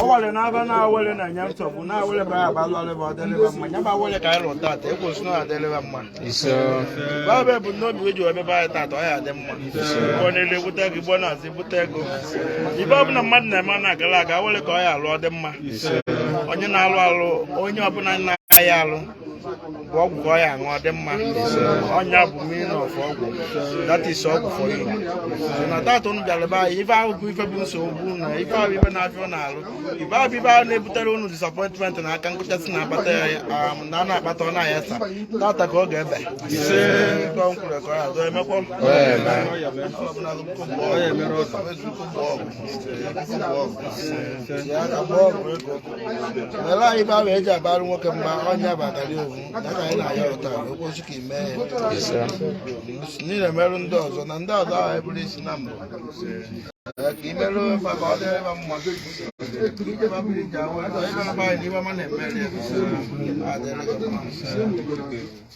ọwale n'aba na-awele na nya nsogbu na-awele bụ aba lụọlị ba ọ dịlị ba mma nya bụ awele ka anyị lụrụ tata ekwu si na adịlị ba mma babe bụ n'obi weji ebe be anyị tata ọ ya adị mma ọ na-ele bute ego igbo na-azụ bute ego ife ọbụla mmadụ na-eme na-agala aga awele ka ọ ya alụ ọ dị mma onye na-alụ alụ onye ọbụla na-agaghị alụ bụ ọgwụ ka ọ ya aṅụ ọ dị mma ọ nya bụ meaning of ọgwụ that is ọgwụ for you so na tata unu bịara be anyị ife ahụ bụ ife bụ nsogbu na ife ahụ ife na-afịa unu alụ ife ahụ bụ ife ahụ na-ebutere unu disappointment na aka nkụchasị na-akpata ya um, na a na-akpata ọ na-aya sa tata ka ọ ga-ebi Ife ọ kwuru ka ọ ya doo emekwa Ọ ya emere ọzọ. were anyị bụ ahụ e ji abarụ nwoke mba onye batalị owu ya ka anyị na-aya ụta okpochi ka ime niile merụ ndị ọzọ na ndị ọzọ ahụ eburu isi na mbụ ka i merụ maka ọ dịrị ma mma Thank you.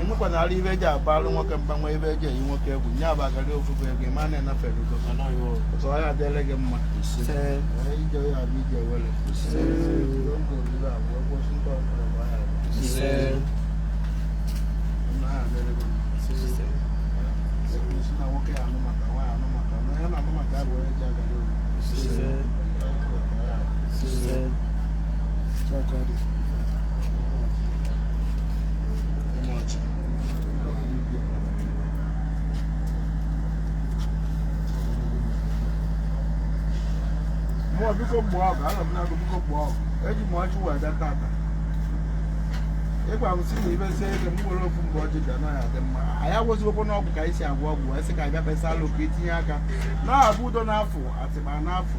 enwekwana ara ife e ji abalụ nwoke mba ma ife e ji eyi nwoke egwu nye bụ agara ofufe ego ịma na enafere ugo ọzọ ya adịele gị mma ije ya bụ ije awele Mmụọ biko gboo ọgụ, ana m na agwụ biko gboo ọgụ. Eji m ọjị wee bịa tata. Ị gwa m sị na ibezie ego m nwere ofu mgbe ọjị bịa naghị adị mma. Anyị agwọzigokwanụ ọgwụ ka anyị si agwọ ọgwụ wee sị ka anyị bịa kpesalụ ka i tinye aka. Na-abụ udo n'afọ, atịma n'afọ.